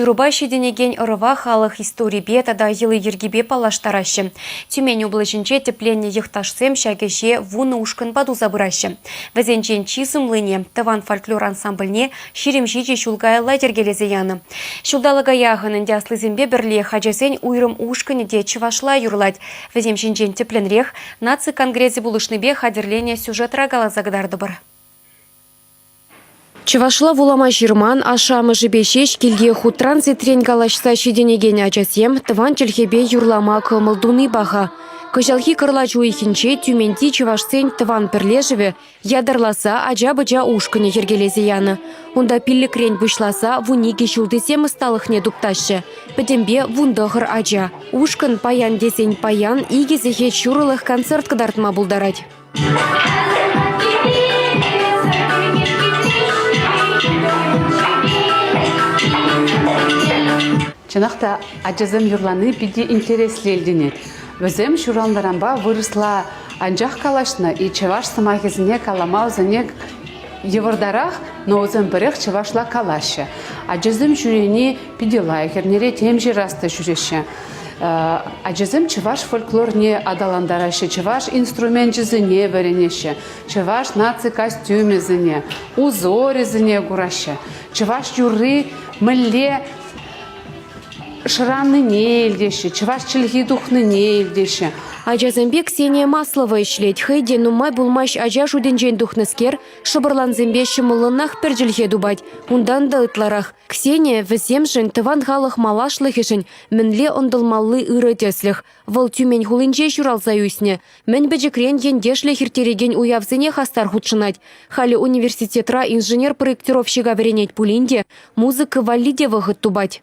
Юрӑпа ҫитӗнекен ӑрӑва халӑх историпе тата йӑли-йӗркипе паллаштараҫҫӗ. Тюмень облаҫӗнче тӗпленнӗ йӑхташсем ҫак ӗҫе вунӑ ушкӑнпа туса пыраҫҫӗ. Вӗсенчен чи сумлине, тӑван фольклор ансамбльне, ҫирӗм ҫичӗ ҫул каялла йӗркелесе янӑ. Ҫулталӑка яхӑн ӗнтӗ аслисемпе пӗрлех ачасен уйрӑм ушкӑнӗ те чӑвашла юрлать. Вӗсем ҫинчен тӗплӗнрех наци конгресӗ пулӑшнипе хатӗрленӗ сюжетра каласа кӑтартӑпӑр. Чӑвашла вулама ҫырман, ашшӗ-амӑшӗпе ҫеҫ килте хутран-ситрен калаҫса ҫитӗнекен ачасем тӑван чӗлхепе юрлама кӑмӑл туни паха. Кӑҫалхи кӑрлач уйӑхӗнче Тюменьти чӑвашсен тӑван пӗрлешӗвӗ ятарласа ача-пӑча ушкӑнӗ йӗркелесе янӑ. Унта пиллӗкрен пуҫласа вун икӗ ҫултисем ӑсталӑхне туптаҫҫӗ. Пӗтӗмпе вун тӑхӑр ача. Ушкӑн паян тесен паян икӗ сехет ҫурӑлӑх концерт кӑтартма пултарать. Чӑнах та ачасем юрлани питӗ интереслӗ илтӗнет. Вӗсем ҫуралнӑранпа вырӑсла анчах калаҫнӑ-и, чӑваш сӑмахӗсене калама вӗсене йывӑртарах, но вӗсем пӗрех чӑвашла калаҫҫӗ. Ачасем ҫӳрени питӗ лайӑх, эрнере тем ҫырас та ҫӳреҫҫӗ. Ачасем чӑваш фольклорне аталантараҫҫӗ, чӑваш инструменчӗсене вӗренеҫҫӗ, чӑваш наци костюмӗсене, узорӗсене кураҫҫӗ. Чӑваш юрри мӗнле шыраннине илтеҫҫӗ, чӑваш чӗлхи тухнине илтеҫҫӗ. Ачасемпе Ксения Маслова ӗҫлет. Хӑй те нумай пулмасть ача шутӗнчен тухнӑскер Шӑпӑрлансемпе ҫӑмӑллӑнах пӗр чӗлхе тупать. Унтан та ытларах. Ксения вӗсемшӗн, тӑван халӑх малашлӑхӗшӗн мӗнле ӑнтӑлмалли ырӑ тӗслӗх. Вӑл Тюмень хулинче ҫуралса ӳснӗ. Мӗн пӗчӗкрен ентешлӗх ирттерекен уявсене хастар хутшӑнать. Халӗ университетра инженер-проектировщика вӗренет пулин те музыка валли те вӑхӑт тупать.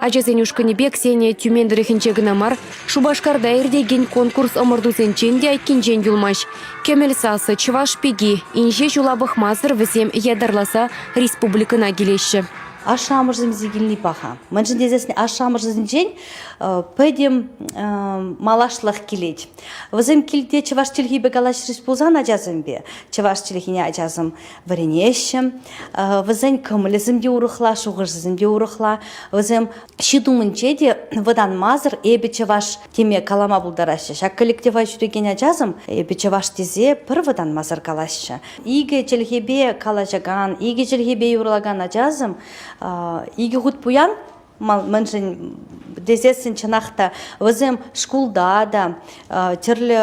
Ачасен ушкӑнӗпе Ксения Тюмень тӑрӑхӗнче кӑна мар, Шупашкарта иртекен конкурс-ӑмӑртусенчен те айккинчен юлмасть. Кӗмӗл сасӑ, Чӑваш пики, инҫе ҫула пӑхмасӑр вӗсем ятарласа республикӑна килеҫҫӗ. Ашшӗ-амӑшӗсемсе килни паха. Мӗншӗн тесен ашшӗ-амӑшӗсенчен пӗтӗм малашлӑх килет. Вӗсем килте чӑваш чӗлхипе калаҫрӗҫ пулсан ачасемпе, чӑваш чӗлхине ачасем вӗренеҫҫӗ. Вӗсен кӑмӑлӗсем те урӑхла, шухӑшӗсем те урӑхла. Вӗсем ҫыт умӗнче те вӑтанмасӑр эпӗ чӑваш теме калама пултараҫҫӗ. Ҫак коллектива ҫӳрекен ачасем эпӗ чӑваш тесе пӗр вӑтанмасӑр калаҫҫӗ. Икӗ чӗлхепе калаҫакан, икӗ чӗлхепе юрлакан ачасем икӗ хут пуян мӗншӗн тесессӗн чӑнах та вӗсем шкулта та тӗрлӗ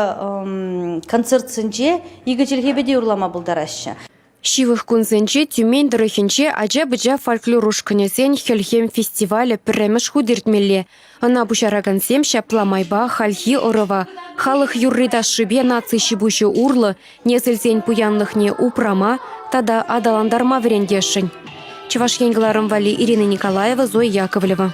концертсенче икӗ чӗлхепе те юрлама пултараҫҫӗ. Ҫывӑх кунсенче Тюмень тӑрӑхӗнче ача-пӑча фольклор ушкӑнӗсен Хӗлхем фестивалӗ пӗрремӗш хут иртмелле. Ӑна пуҫаракансем ҫапла майпа хальхи ӑрӑва, халӑх юрри-ташшипе наци ҫипуҫӗ урлӑ, Несӗлсен пуянлӑхне упрама тата аталантарма вӗрентесшӗн. Чӑваш Ен кӑларӑм валли Ирина Николаева, Зоя Яковлева.